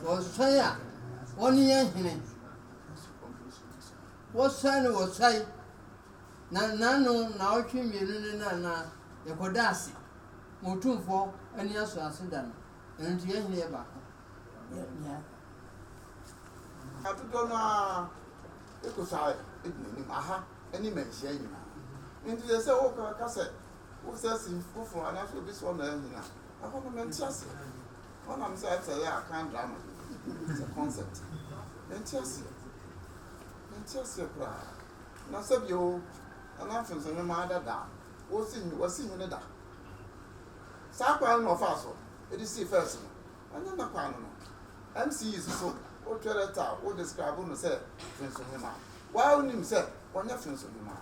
Wɔsan a, wɔne yɛn hene. Wɔsan no wɔsan, na n'ano nnawɔtwe mmienu no na na yɛkɔda ase ma Otumfoɔ ani asɔ ase da no. Ɛno nti yɛn hene yɛ baako. Na dodoɔ no ara kɔ so ara di n'anim, aha ne mmanhyia nyinaa. Enti sɛ sɛ woka sɛ wosɛ sin foforɔ anaasɛ obi sɛ ɔna yɛ hene a, ɛhɔ no mente aseɛ. Wɔnam sɛ ɛte yɛ a kan drama sɛ concept mente aseɛ mente aseɛ koraa na sɛ bio nana mfenso nwoma adada wɔsi wɔsi nwene da saa kwan no na ɔfaa so ɛde sii first no ɛnyɛ na kwan no no MCE so so wotwerɛ ta wo describe no sɛ mfenso nwoma waa wonim sɛ wɔnyɛ mfenso nwoma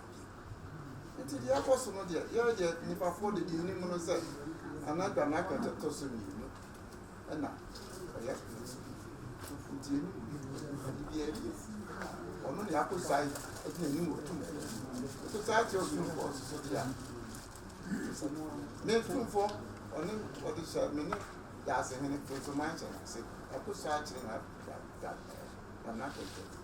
Nti deɛ ɛkɔ so no deɛ, yɛn deɛ nnipafoɔ deɛ deɛ yɛnim no sɛ anadwa na ɛpɛtɛ ɛtɔ so mmienu ɛna ɛyɛ nti yɛnim biribi ɛyɛ ɔno ne akɔsae ɛde n'anim wɔ tum akɔsae kyerɛ ɔtumfoɔ nso so deɛ ne tumfoɔ ɔne ɔde hyɛ me ne daasehene nso manhyɛ no ase akɔsae kyerɛ na anadwa ɛtɛ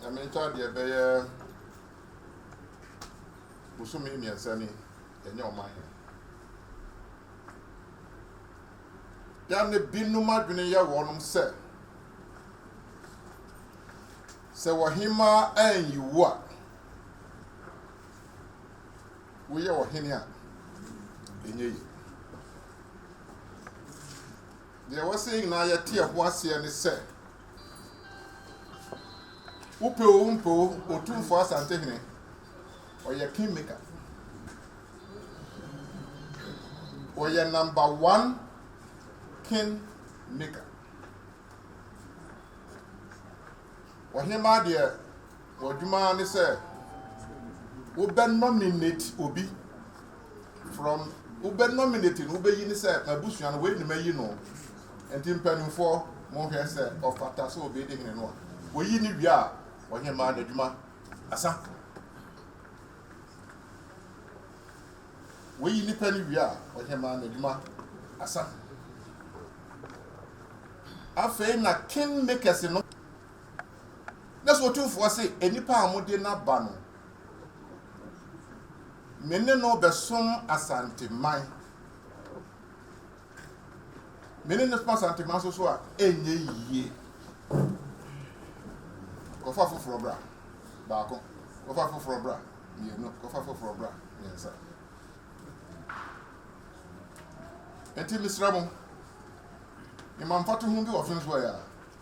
Nyame ntaadeɛ bɛyɛ bosome mmiɛnsa ni ɛnyɛ ɔma he. Da ne binom adwene yɛ wɔnom sɛ sɛ wɔhemaa anyi wo a woyɛ ɔhene a ɛnyɛ yi. Deɛ ɛwɔ sɛ yɛn nyinaa yɛte ɛho aseɛ ne sɛ, wopɛ o wompɛ o, Otumfoɔ Asantehene, ɔyɛ Kingmaker. Ɔyɛ number one Kingmaker. Ɔhemaa deɛ W'adwuma ara ne sɛ wobɛ nominate obi from wobɛ nominate no wobɛyi ne sɛ m'abusua no wei ne mayi no nti mpanimfoɔ monhwɛ sɛ ɔfata sɛ ɔbɛdi hene no a wɔyi ne wie a ɔhemaa n'adwuma asa wɔyi nipa no wie a ɔhemaa n'adwuma asa afei na king makers no Na sɛ Otumfoɔ se, Nnipa a mode no aba no, me ne no bɛsom Asanteman. Me ne no som Asanteman nso so a, ɛnyɛ yie. Kɔfa foforɔ bra, baako. Kɔfa foforɔ bra, mmienu. Kɔfa foforɔ bra, mmiɛnsa. Enti mesrɛ mo, mema mfatoho bi wɔ Fensoɛ a,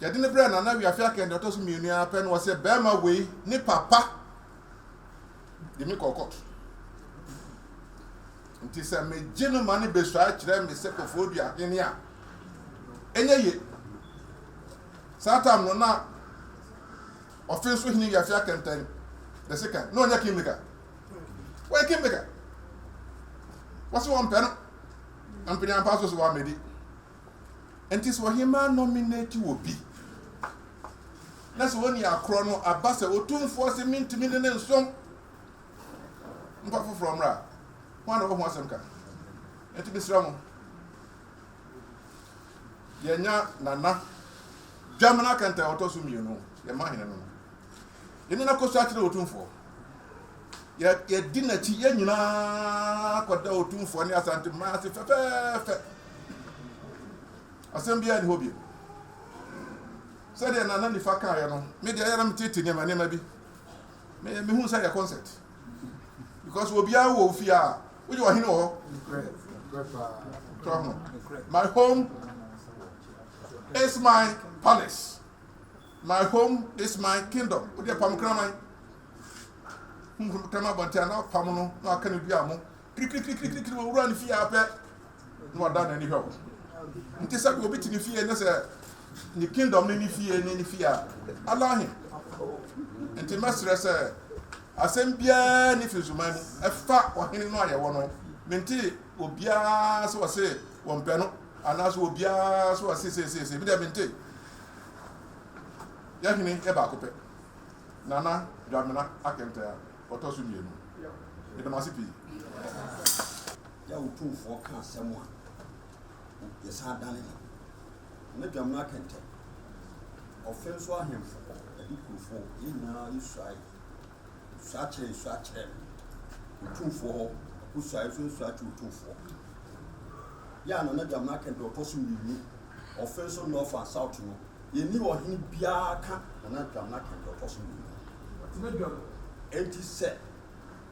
Yɛde no brɛɛ Nana Wiafe Akan deɛ ɔtɔ so mmienu ara pɛ na ɔsɛ bɛrima wei ne papa de me kɔɔ kɔɔto. Nti sɛ megye no ma no bɛsuae kyerɛ me sɛ kɔfoɔ dua hene a, ɛnyɛ ye. Saa tam no na ɔfe nso hene Wiafe Akan tan the second na ɔnyɛ kingmaker. Wɔyɛ kingmaker. Wɔse wɔmpɛ no. Mpene ampa so so wɔamɛdi. Enti sɛ ɔhemmaa nominate obi, na sɛ ɔnni akorɔ no aba sɛ otumfoɔ se mentumi ne no nsom, mfa foforɔ mmra a, hwan na ɔwɔ ho asɛm ka? Enti mesrɛ mo, yɛnya Nana Dwamena Kɛntɛn a ɔtɔ so mmienu, yɛmma hene no no. Yɛne no akɔsu akyerɛ Otumfoɔ. Yɛ, yɛdi n'akyi, yɛn nyinaa kɔda Otumfoɔ ne Asante mmaa ase fɛfɛɛfɛ. Asɛm biara nni hɔ bio. Sɛdeɛ Nana Nifa kaeɛ no, me deɛ ɛyɛ na metete nneɛma nneɛma bi. Me, mehu sɛ yɛ concert. Because obiara wɔ ofie a, wogye ɔhene wɔ hɔ. My home is my palace. My home is my kingdom. Wode apam kraman. Honhom kraman bɔnte a na apam no na aka no dua mo. Kirikirikirikiri wɔ wura ne fie apɛ na wada n'ani hwɛ wo. Nti sɛ obi te ne fie ne sɛ ne kingdom ne ne fie ne ne fie a alahe. Nti mɛsrɛ sɛ asɛm biara ne fi nsuman mu ɛfa ɔhene no a yɛwɔ no. Mente obiara sɛ ɔse wɔmpɛ no anaasɛ obiara sɛ ɔse seeseesei. Medeɛ mente. Yɛn hene yɛ baako pɛ, Nana Dwamena Akentaa, ɔtɔ so mmienu. Yɛda mo ase pii. Yɛ wo tumfoɔ ka asɛm a, yɛ san dane no. Nana Dwamena Akentɛ, ɔfenso ahemfo, adikurufo, yɛn nyinaa yɛ suae Nsuakyerɛ nsuakyerɛ no otumfoɔ hɔ, Akosua nso nsuakyerɛ otumfoɔ hɔ. Yɛn a na Nana Gyamena ka deɛ ɔtɔ so mmienu, ɔfe nso North and South no, yɛnni ɔhene biara ka Nana Gyamena ka deɛ ɔtɔ so mmienu. Enti sɛ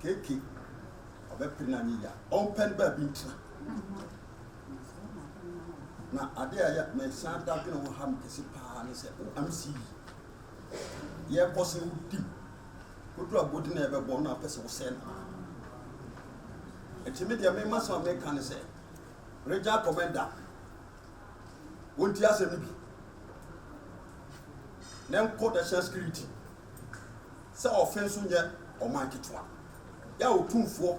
KK ɔbɛpere no anyɛ yie a, ɔmpɛ no baabi ntena. Na adeɛ a ɛyɛ mesan da dwene ho ha me kɛse paa ne sɛ, wo amc yi, yɛkɔ so di mu kodu agodi na yɛbɛbɔ na apɛ sɛ wosɛe no a ɛti me deɛ mema sɛ meka ne sɛ regya kɔmɛnda wɔnti asɛm no bi na nkɔ national security sɛ ɔfe nso nyɛ ɔman ketewa yɛ a ɔtumfoɔ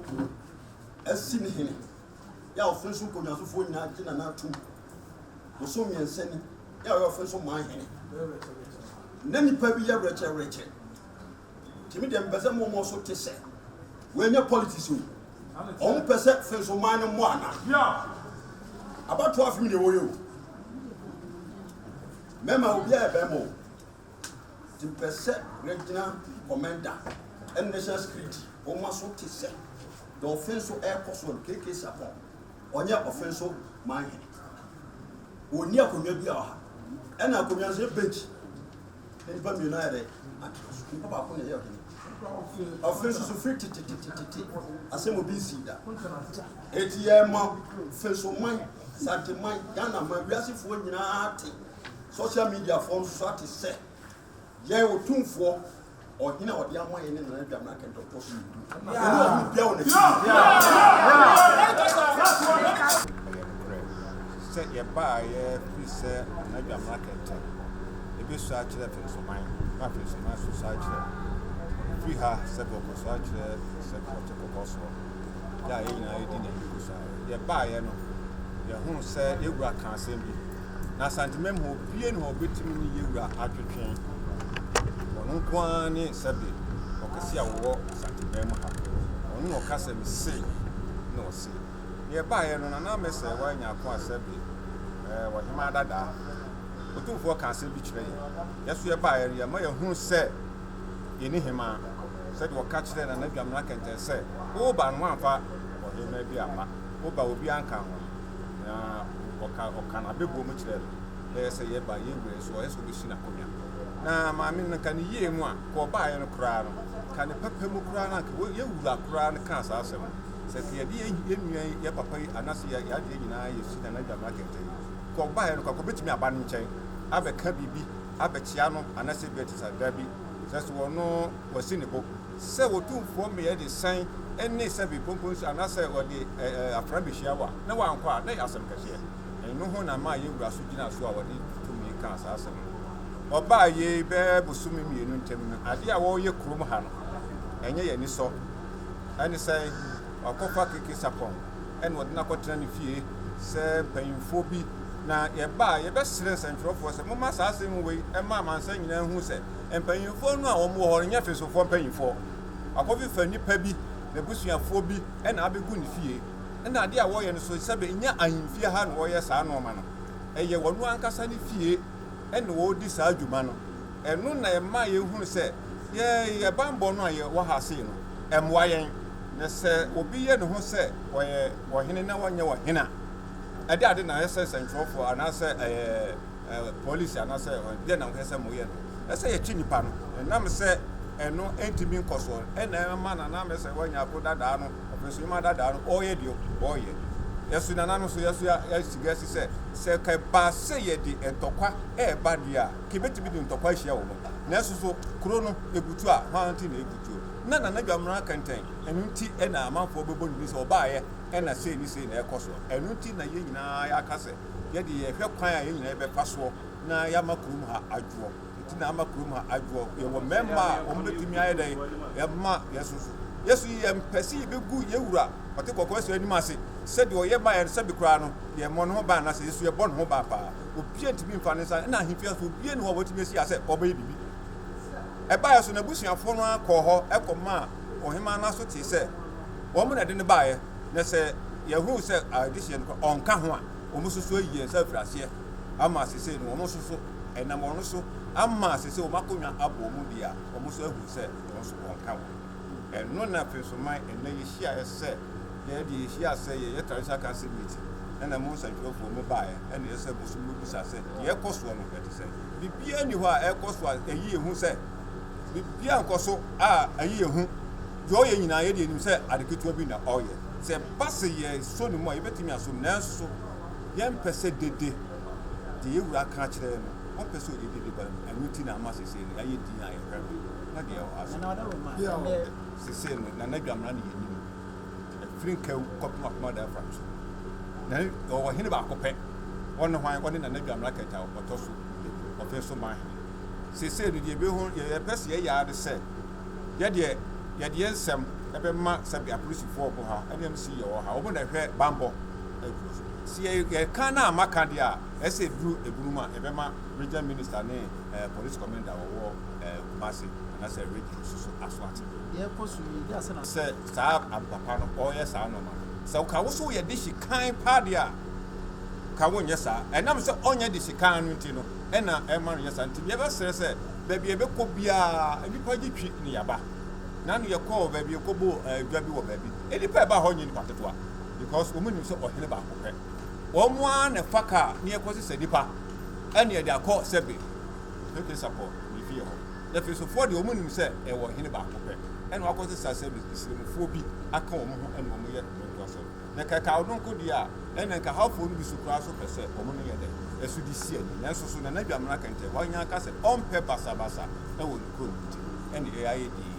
asi ne hene yɛ a ɔfiri so nkɔnyasofoɔ nyinaa gye Nana tom. Bosom mmiɛnsa ni yɛ a ɔyɛ ɔfiri so man hene. Na nipa bi yɛ werɛkyerɛwerɛkyɛ. Tìmi deɛ mpɛ sɛ mmɔmmɔ so te sɛ wɔnyɛ politics o. Wɔn pɛ sɛ firi so man no mmɔ ana. Abatoɔ afim na ɛwɔ yɛ o. Mɛma obiara yɛ bɛrima o. Tipɛsɛ regyina kɔmɛnda ɛne national security wɔn ma so te sɛ deɛ ɔfe nso ɛrekɔ so no KK Sarpong ɔnyɛ ɔfe nso man hene wɔnni akonnwa bi a ɔha ɛna akonnwa nso yɛ bench ne nipa mmienu ayɛ dɛ atena so nipa baako na ɛyɛ ɔhene ɔfe nso so firi tetetetetete asɛm obi nsi da eti yɛ ma fe nso man santeman ghana man wiasefoɔ nyinaa te Social media foɔ nso so ate sɛ yɛn otumfoɔ ɔhene a ɔde ama yɛn ne nana dwa mmerɛ kɛntɛ ɔtɔ so mmienu ɛne ɔhene bia wɔ n'akyi ɛyɛ nokorɛ sɛ yɛbaeɛ firi sɛ nana dwa mmerɛ kɛntɛ ɛbɛsu akyerɛ fensoman na fensoman so su akyerɛ firi ha sɛ bɔkɔ su akyerɛ sɛ kɔte kɔkɔ soɔ yɛ a yɛ nyinaa yɛdi n'ani kɔ so a yɛbaeɛ no yɛhunu sɛ yɛwura ka asɛm bi Na Santemem hɔ fie na wɔbɛtumi ne Yewura atwetwe. Ɔno nko ara ne sɛbe ɔkɛse a ɔwɔ Santemem ha. Ɔno na ɔka sɛ, Mese, na ɔse. Deɛ ɛbaeɛ no, Nana Mɛsɛɛ Wai Nyarkoa sɛbe ɛɛ Ɔhemaa Dadaa, Otumfoɔ kaa asɛm bi kyerɛɛ yɛn. Yɛn nso yɛbaeɛ no, yɛma yɛhunu sɛ yɛnni Hemaa. Sɛdeɛ ɔka kyerɛɛ Nana Dwamena Kɛntɛn sɛ, Woba no, woamfa Ɔhemaa bi amma. Woba a, obiara nka ho. Na ɔka ɔka n'abɛbuo mu kyerɛɛ no. Na yɛ sɛ yɛ ba, yɛn wura yi nso, ɔyɛ sɛ ɔbɛsi n'akonnwa. Na maame no, anka ne yie mu a, anka ɔbaeɛ no koraa no, anka ne papa mu koraa no, anka wɔ, yɛn wura koraa no kaa saa asɛm no. Sɛ anka yɛde yɛn, yɛn nua yi, yɛn papa yi, anaasɛ yɛn adeɛ nyinaa yɛsi Nana Dwamena kɛntɛn yi, anka ɔbaeɛ no koraa, anka ɔbɛtumi aba ne nkyɛn abɛka biribi abɛkyea no, anaasɛ ebia te saa. Dabi, sɛ so ɔno, wasi ne bo. Sɛ otumfoɔ mmeae de sɛn ne sɛ bekonkonsu anaasɛ ɔde afra behyia wa na wankɔ a, na ɛyɛ asɛm kɛseɛ. Eno ho na ɛmaa Yɛn Wura so gyinaa so a ɔde tumi kaa saa asɛm no. Ɔbaa yei bɛɛ bosome mmienu ntam no, adeɛ a wɔreyɛ kurom ha no, ɛnyɛ yɛn anisɔ. Ɛne sɛ wakɔfa Keke Sarpong na ɔde no akɔtena ne fie sɛ mpanyimfoɔ bi. Na yɛbaa a, yɛbɛsrɛɛ nsɛntwerɛfoɔ sɛ momma saa asɛm wei mma amansan nyinaa nhu sɛ, Mpanyimfoɔ no a wɔn wɔ hɔ no nyɛ fesofoɔ mpanyimfoɔ. Wakɔfefa nipa bi, n'abusuafoɔ bi na abɛgu ne fie. Ɛna adeɛ a wɔyɛ no so sɛbe nyɛ ahemfie ha na wɔyɛ saa nnoɔma no. Ɛyɛ wɔn ankasa ne fie na wɔredi saa dwuma no. Ɛno na ɛma yɛhunu sɛ yɛn banbɔ no a yɛwɔ ha sei no, ɛmmoa yɛn. Na sɛ obi yɛ ne ho sɛ ɔyɛ ɔhene na ɔnyɛ ɔhene a, ɛde ade na ɛsɛ sɛnkyerɛwfoɔ anaasɛ ɛyɛ. Polisi anaasɛ deɛ na wohwɛ sɛ moyɛ no ɛsɛ sɛ yɛkye nipa no ɛnam sɛ ɛno ɛntumi nkɔsoɔ ɛna ɛma nana mɛ sɛ wɔanya ako dadaa no ɔpɛsɛ ma dadaa no ɔyɛ deɛ ɔyɛ yɛso nana no so yɛso yɛasi gasi sɛ sɛ kɛba sɛ yɛde ntɔkwa ɛɛba deɛ a kɛbɛtumi de ntɔkwa ahyia wɔ mu nanso so kuro no ɛbutu a hwan nti na ɛbutuo na nana dwamena kɛntɛn ɛno nti ɛna amanfoɔ bɛbɔ ne ni sɛ ɔbaayɛ ɛna sei ne sei na ɛkɔ soɔ ɛno nti na yɛn nyinaa yɛaka sɛ Yɛ de yɛ hwɛ kwan a yɛ nyinaa yɛ bɛ fa soɔ na yɛ ama kurom ha adwoɔ. Nti na ama kurom ha adwoɔ. Yɛ wɔ mɛɛma a wɔn bɛ tumi ayɛ dɛn yɛ ma yɛ so so. Yɛ so yɛ mpɛ sɛ yɛ bɛ gu yɛ wura ɔte kɔkɔɔ sɛ anim ase sɛ deɛ ɔyɛ ma yɛ no sɛ bi koraa no yɛ mmɔ ne ho ban anaa sɛ yɛ so yɛ bɔ ne ho ban paa. Obia ntumi mfa ne nsa nna ahemfie nso obia ni hɔ a watumi asi ha sɛ ɔbɛyɛ biribi. Ɛbaeɛ so n'abusuafoɔ no ara kɔɔ hɔ kɔ maa ɔhemaa no ara so tee sɛ wɔn na ɛde no baeɛ. Na sɛ yɛhunu sɛ adehyeɛ no ɔnka ho a, wɔn nso so ayi yɛn nsa afiri aseɛ ama ase sei no, wɔn nso so ɛnam wɔn so ama ase sɛ wɔn akonnwa abɔ wɔn mu deɛ a, wɔn nso ahunu sɛ wɔn nso ɔnka ho. Ɛno na afei nso man ɛnɛ yɛhyiaeɛ sɛ yɛde yɛhyia sɛ yɛyɛ Traditional Council meeting, ɛna mo nsɛntwerɛfoɔ mo baeɛ, ɛna ɛyɛ sɛ mo nso mobisa sɛ deɛ ɛkɔ soɔ no ɛte sɛ. Biribiara nni hɔ a ɛkɔ so a ɛyi yɛn hu sɛ biribiara nkɔ so a ɛyi yɛn hu. Deɛ ɔyɛ nyinaa yɛdeɛ yɛnim sɛ ade ketewa bi na ɔyɛ. Sɛ ɛba sɛ yɛsɔ ne mu a yɛbɛtumi asɔ mu nanso yɛmpɛ sɛ dede deɛ yɛn wura ka kyerɛ no ɔmpɛ sɛ ɔde dede ba no ɛno nti na ama sesei no yɛayɛ din a yɛfrɛ no na deɛ ɛwɔ ha so sesei no Nana Dwamena ne yɛnim no ɛfiri Nkawu kɔpem Apem Adaafam so na ɔwɔ hene baako pɛ ɔne hwan ɔne Nana Dwamena Kɛta ɔtɔ so ɔpɛ so ma hene sesei no deɛ yɛpɛ sɛ yɛyɛ ara ne sɛ Yɛ deɛ yɛde yɛn nsɛm bɛma sɛbe apolisifoɔ ɔbo ha ne MC yɛwɔ ha ɔmo na ɛhwɛ banbɔ kuro so sɛ yɛ yɛka na ama ka deɛ a ɛsɛ ɛduru ɛbunu mu a yɛbɛma region minister ne ɛɛ police commander ɔwɔ ɛɛ Kumasi anasɛ region so so aso ate Yɛ kɔ so yie deɛ asɛ na. Sɛ saa ab papa no ɔyɛ saa nnoɔma no sɛ ɔka wo so yɛ dehye kann paa deɛ a ka wo nyɛ saa ɛnam sɛ ɔnyɛ dehye kann no nti no ɛna ɛma no yɛ saa nti yɛbɛsrɛ sɛ. Baabi a yɛbɛkɔ biara, nnipa gye twi ne yaba. Nano yɛkɔɔ baabi yɛkɔbɔɔ dwa bi wɔ baabi. Nnipa a ɛbaa hɔ nyɛ nnipa ketewa because wɔn nim sɛ ɔhene baako pɛ. Wɔn ara na ɛfa kaa ne yɛkɔsesa nnipa ɛne yɛde akɔ sɛbe pɛpɛ sapɔ ne fie hɔ. Efesofoɔ deɛ wɔn nim sɛ ɛwɔ ɔhene baako pɛ ɛna wakɔsesa sɛbe sremfoɔ bi aka wɔn ho ɛna wɔn yɛ wɔn ntoasoɔ. Na kɛkaaw no nko deɛ a, ɛnna nka Hawfoɔ no bi so koraa nso pɛ sɛ wɔn no yɛ dɛ ɛso de si ani. Nanso so Nana Dwamena Kɛntɛn Hwanyann ka sɛ ɔmpɛ basabasa wɔ ne kurom nti no, ɛnneɛ ayɛ dinn.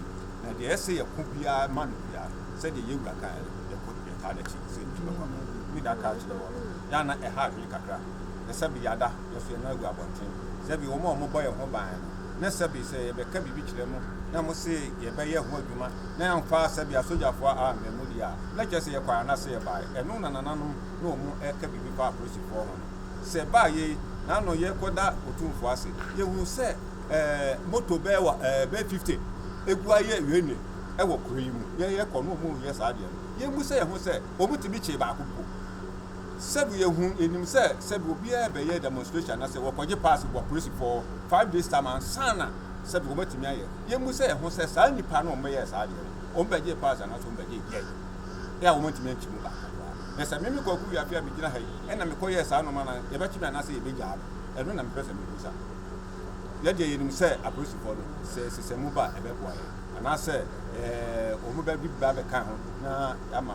Na deɛ ɛsɛ yɛko biara ma no biara, sɛdeɛ yɛn wura kaeɛ no, yɛko de taa n'akyi sɛ nti bɛkɔ ama no. Me da kaa kyerɛɛ wɔn, yɛ a na ɛha adwene kakra, na sɛbe yɛada, yɛso yɛn nan agu abɔnten, sɛbe wɔn a wɔbɔ yɛn ho ban no, na sɛbe sɛ yɛbɛka biribi kyerɛ mo na mo se yɛbɛyɛ ho adwuma na yɛamfa sɛbe asogyafoɔ ammɛ mo deɛ a, na ɛkyerɛ sɛ yɛkɔe anase yɛbae. Ɛno na nananom na wɔn ɛka biribi fa apolisifoɔ ho no. Sɛ baa yei na ano yɛkɔda Otumfoɔ ase, yɛhunu sɛ ɛɛ moto bɛɛ wa ɛɛ bɛɛ 50 ɛgu ayɛ wieneɛ ɛwɔ kuro yi mu. Yɛyɛ kɔ na wɔn reyɛ saa deɛ no, yɛmmu sɛ yɛn ho sɛ wɔn tumi kyee baako mpo. Sɛbi yɛhu yɛnim sɛ sɛbi obiara ɛbɛyɛ demonstration anasɛ wɔkɔgye pass wɔ apolisifɔ hɔ five days time ansana sɛbi wɔn atumi ayɛ yɛmmu sɛ yɛho sɛ saa nnipa no wɔn bɛyɛɛ saa adeɛ no wɔn bɛgyee pass anasɛ wɔn bɛgyee gyɛɛ yɛ a wɔn antumi ankyi mu baako koraa na sɛ meme kwaku wiafe a megyina ha yi ɛna mekɔyɛɛ saa nɔma na yɛbɛkye me anasɛ yɛbɛgyaa me ɛno na mepɛ sɛ mebusa yɛdeɛ yɛnim sɛ apolisifɔ no sɛ sesɛ mu ba ɛbɛboa yɛ anasɛ ɛɛ wɔn bɛbi ba bɛka ho na ama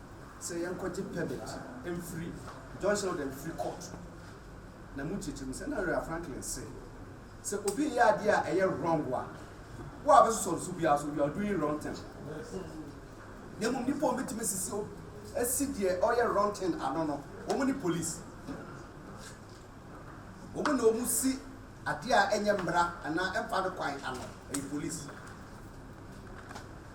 sɛ yɛnkɔgye permit mfiri John Sheldon mfiri court na mu nkyerɛkyerɛ mu sɛ na Rhea Franklin se sɛ obi reyɛ adeɛ a ɛyɛ wrong a wo a bɛsosɔ nso biara so you are doing wrong thing na mmom nipa wɔn bɛtumi sisi o asi deɛ ɔyɛ wrong thing ano no wɔn ne police wɔn na wɔn si adeɛ a ɛnyɛ mmara anaa ɛmfa no kwan ano ɛyɛ police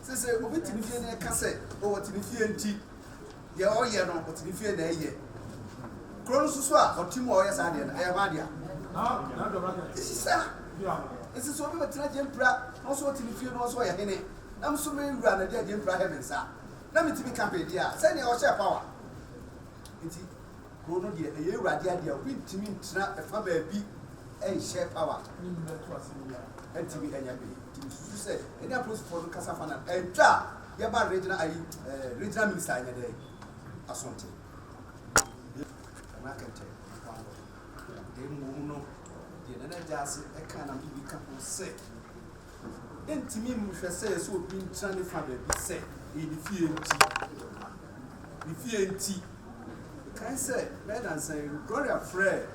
Sese obi te ne fie na ɛka sɛ oh ɔte ne fie nti deɛ ɔyɛ no ɔte ne fie na ɛyɛ. Kuro no soso a ɔte mu a ɔyɛ saa deɛ no ɛyɛ hwan dea? Sisa ɛsɛ sɛ obi bɛtena gyempira na ɔsɛ ɔte ne fie na ɔsɛ ɔyɛ hene. Na me nso me wura na de agyempira hɛ me nsa na metumi ka me dea sɛdeɛ ɔhyɛ power nti Kuro no deɛ ɛyɛ awurade adeɛ a obi ntumi ntena ɛfa baabi nhyɛ power ɛntumi ɛnyɛ hwee nti mesusu sɛ ɛne apolisifoɔ no kasa fa na ɛtwa a yɛba regional ayi eh, regional minister ɛnyɛ dɛ asonte ɛna kɛntɛ mmom no deɛ nana gya ase ɛka na bibi ka ho sɛ ɛntumi nhwɛ sɛ ɛsɛ obi ntena ne fa baabi sɛ ɛyɛ ne fie nti ne fie nti, mekae sɛ, ɛbɛyɛ nnansa yi, Gloria frɛɛ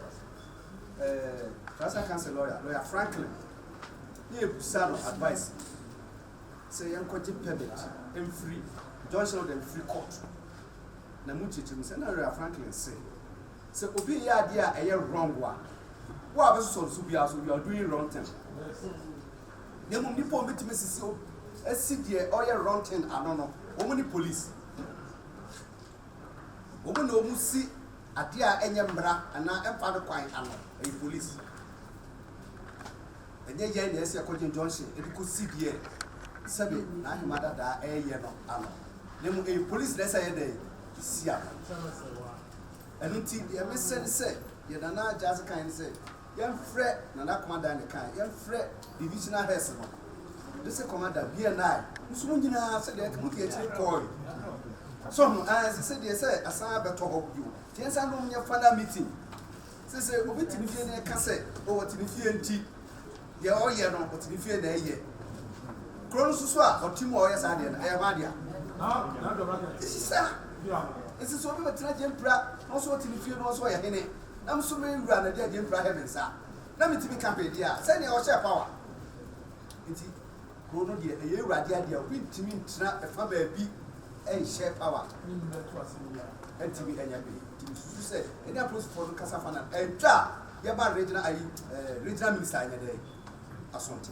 ɛɛ Tribesal Council lawyer, Lawyer Franklin, na yɛbisa no advice sɛ yɛnkɔgye permit mfiri injunction order mfiri court. Na mu nkyerɛkyerɛ mu sɛ, na Lawyer Franklin se, sɛ obi reyɛ adeɛ a ɛyɛ wrong a, wo a wobɛsosɔ no so biara so, you are doing wrong thing. Na mmom nipa a wɔbɛtumi asisi o asi deɛ ɔyɛ wrong thing ano no, wɔn ne police. Wɔn na wɔn si adeɛ a ɛnyɛ mmara anaa ɛmfa no kwan ano, ɛyɛ police. Ɛnyɛ yɛn na ɛsɛ ɛkɔgye injunction ɛde kɔsi deɛ sɛbe n'ahema dadaa ɛreyɛ no ano. Na mmom ɛyɛ police na ɛsɛ ɛyɛ dɛ si ano. Ɛno nti deɛ mesɛ ne sɛ deɛ Nana Gyasi kan ne sɛ Yɛnfrɛ, Nana Komadane kae, yɛnfrɛ Divisional Heads no, de se Commander, BNI, nso mo nyinaa sɛdeɛ anka mode akyire kɔɔe. So ho? Aah, ɛsɛ sɛ deɛ sɛ asan abɛtɔ hɔ bio. Nti yɛnsan nom nyɛ final meeting. Sɛ sɛ obi te ne fie na ɛka sɛ, oh, ɔte ne fie nti, deɛ ɔyɛ no, ɔte ne fie na ɛyɛ. Kuro no nso so a, ɔte mu a ɔyɛ saa deɛ no, ɛyɛ hɔ adea. Ɛsisa. Ɛsisa obi bɛtena Gyempira, na ɔso ɔte ne fie na ɔso ɔyɛ hene. Na nso me wura na de agye mpira ahyɛ me nsa na me tumi ka baabi a sɛnea ɔhyɛɛ power nti kuro no deɛ ɛyɛ awurade adeɛ a obi ntumi ntena ɛfa baabi ɛnhyɛ power ɛntumi ɛnyɛ bee nti mesusu sɛ ɛne apolisifoɔ no kasa fa na ɛntwa a yɛba regional ayi regional minister ɛnyɛ dɛ asonte